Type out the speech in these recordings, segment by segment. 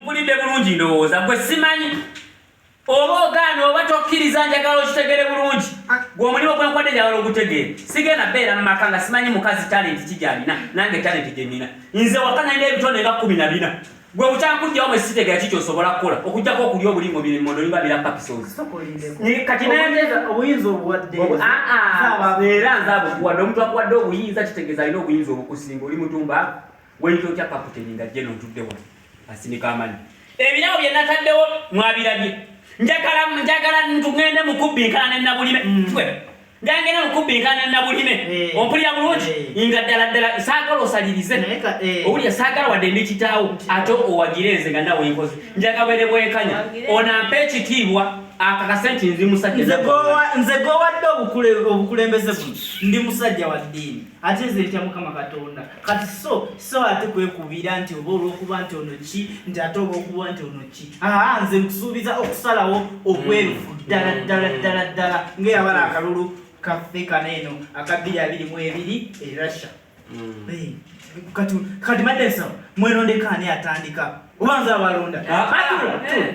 mpulidde bulungi ndowooza gwe simanyi oba ogaana oba tokkiriza njagala okitegere bulungi gwe omulimu gwenkwadde njagala ogutegeera sigenda beera mu maka nga simanyi mukazi talenti ki gyalina nange talenti gye nina nze waka nalina ebitonde nga kumi na bina gwe bukyankujjawo mwe sitegera ki kyosobola kukola okujjako okulya obulingo biri mondo niba birapa pisozi kati obuyinza obuwaddeera ah, ah, nze abukuwadde omuntu akuwadde obuyinza kitegeeza alina obuyinza obukusinga oli mutumba Weyita otya kaputeni nga jeno ntudde wano asinika amanyi ebirabo bye nataddewo mwabirabye njagala njagala ntugende mu kubbinkana ne nabulime ntwe mm. njagenda mu kubbinkana ne nabulime eh. ompulira bulungi eh. nga ddala ddala saagala osalirize eh. owulira saagala wadde ndi kitaawo ate owagire nze nga nawe nkozi njagala bwere bwenkanya onampa ekitiibwa akakase nti ndi musajja nze gowadde obukulembeze buno ndi musajja wa ddiini ate nze ntya mukama katonda kati so so ate kwekubira nti oba olwokuba nti ono ki nti ate olwokuba nti ono ki aa nze nkusuubiza okusalawo okwerufu mm. ddala ddala ddala ddala ngaeyabala akalulu kaffe kana eno akabbiri abiri mu ebiri erussia mm. kati kati madensa mwelondekaani atandika oba nze abalonda ah, ah, eh.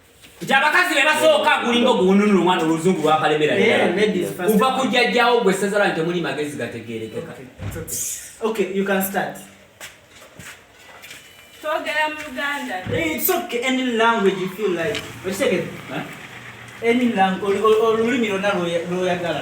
nti abakazi be basooka gulinga oguwununula omwana oluzungu lwakalemera kuva ku jjajjawo gwe essaza lwange temuli magezi gategeerekeka twogera mu luganda olulimi lwonna lwoyagala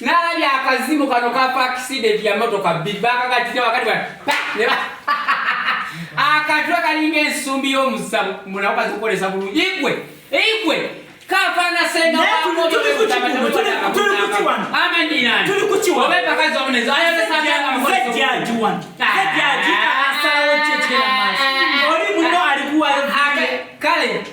nalabye akazimu kano kafa accident ya motoka bbiri bakakatira wakati akatwe kalinga ensumbi y'omusamu munaku kazikolesa bulungi igwe igwe kafana senga kale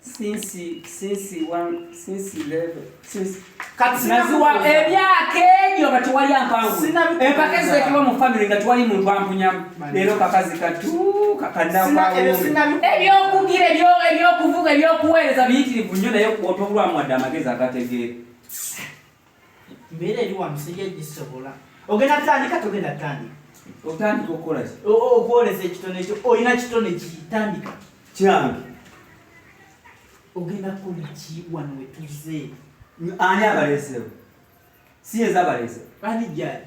since since one since eleven since kati naziwa emyaka egyo nga tewali ampangu empaka ezitekebwa mu famire nga tewali muntu ampunyamu leero kakazi katu kakanaebyokugira ebyokuvuga ebyokuweereza biyitirivu nnyo naye otobulwamu wadde amagezi agategeera Mbeera eri wano sijja gisobola. Ogenda tandika togenda tandika. Otandika okukola ki? Okwolesa ekitone ekyo olina kitone kitandika. Kyange. Ogenda kukola ki wano we tuzze? Ani abaleesewo? Si yeza abaleese. Ani gyali?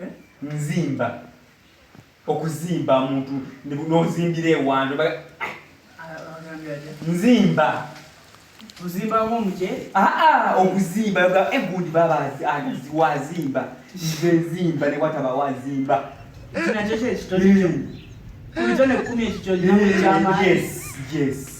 eh? nzimba okuzimba muntu nozimbira ewando nzimba ozimbamu omuceere aa okuzimba egud baba wazimba nze nzimba ne wataba wazimba kinakyo kyekitone kumi ekikyo yes yes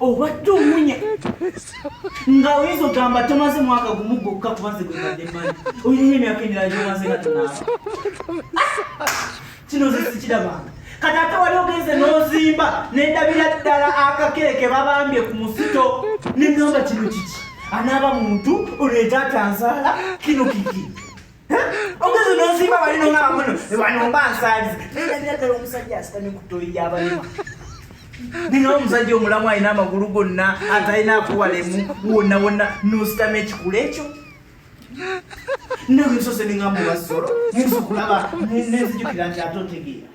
obadde omunya nga oyinza ogamba tomaze mwaka gumu gwokka kubanze gwebadde manyi oyina emyaka emirala gyomaze nga tonaaba kino ze sikirabanga kati ate wali ogenze n'ozimba nendabira ddala akakere ke babambye ku musito nengamba kino kiki anaaba muntu oleeta atanzaala kino kiki nina omusajja omulamu alina amagulu gonna atalina akuwalemu wonna wonna nositama ekikula ekyo nawe nsose ningamba obasolo nensokulaba nenzijukira nti ate otegeera